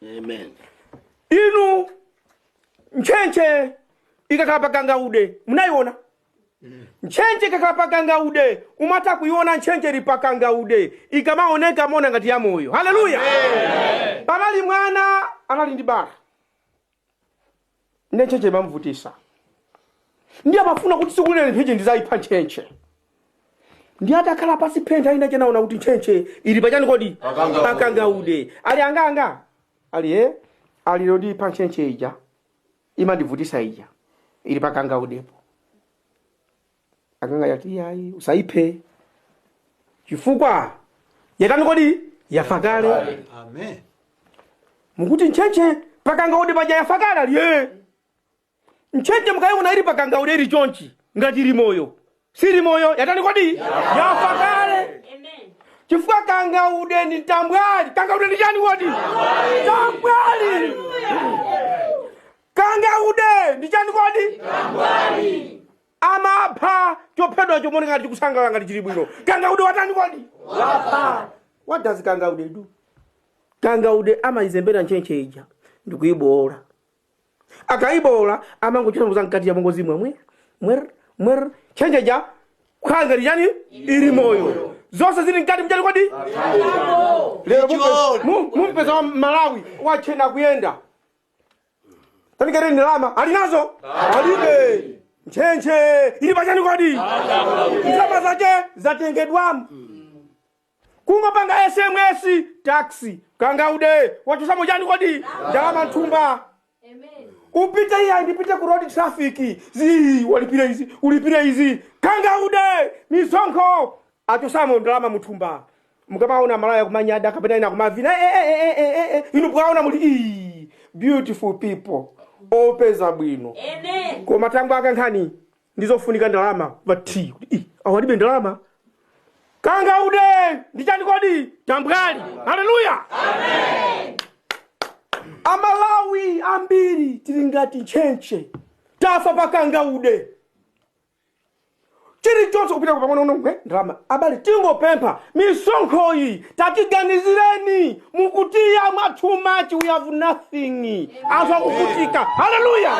Amen. inu ntchentche ikakhala pa kangaude munaiona ntchentche ikakhala pa kangaude mumatha kuiona ntchentche ili pa kangaude ikamaoneka imaoneka ngati yamoyo haleluya panali mwana anali ndi bala ntchentche imamvutisa ndiye amafuna kuti tsiku lina ntchentche ndizayipha ntchentche ndiye atakhala pasi penapake ina anaona kuti ntchentche ili pachani kodi? Pakangaude. pakangaude ali angaanga ali ee ali ndiipha ntchentche ija imandivutisa ija ili pakangaudepo agogo ati yayi usayiphe chifukwa yatani kodi yafa kale amen mukuti ntchentche pakangaude paja yafa kale ndiye ntchentche mukaiona ili pakangaude ili chonchi ngati ili moyo sili moyo yatani kodi yafa kale chifukwa kangaude ndi tambwali kangaude ndi chani kodi tambwali kangaude ndi chani kodi Amapha chophedwacho nkumaoneka ngati chikusangalala ngati chili bwino. Kangaude watani kodi? Wapha. What does kangaude do? Kangaude amayizembera ntchentche ija ndikuyibowola. Akayibowola amangochita kuza mkati ya mongozi mwemwe mwer mwer ntchentche ija kukhala ngati chani ili moyo. Zonse zili mkati mchani kodi? Lero mumpe- mu- mumpeza Mmalawi watchena kuyenda. tandikhatani ndalama ali nazo alibe ntchentche ili pachani kodi ndalama zake zatengedwamo kungopanga sms taxi kangaude wachotsamo chani kodi ndalama mthumba upite iya ndipite ku road traffic zi walipire izi ulipire izi kangaude misonkho achotsamo ndalama muthumba mukamaona amalawi akumanyada kapena ena akumavina "Eh, eh, eh, eh, eh, eh, eh," inu mukaona muli "Ii," beautiful people opeza bwino koma tangu aka nkhani ndizofunika ndalama ati kuti ii alibe ndalama kangaude ndichani kodi tambwali haleluya amalawi ambiri tili ngati ntchentche tafa pa kangaude chilichonse kupita ku pang'ono pang'ono eh, ndalama abale tingopempha misonkho iyi tatiganizireni mukutidya mwa too much we have nothing anthu akuvutika haleluya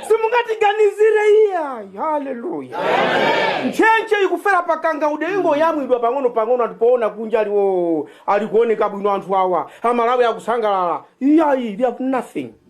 simungatiganizire iyayi haleluya ntchentche ikufera pakangaude ikungoyamwidwa pang'ono pang'ono ndiye poona kunja ali ali kuoneka bwino anthu awa amalawi akusangalala iyayi we have nothing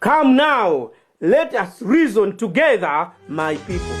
Come now, let us reason together, my people.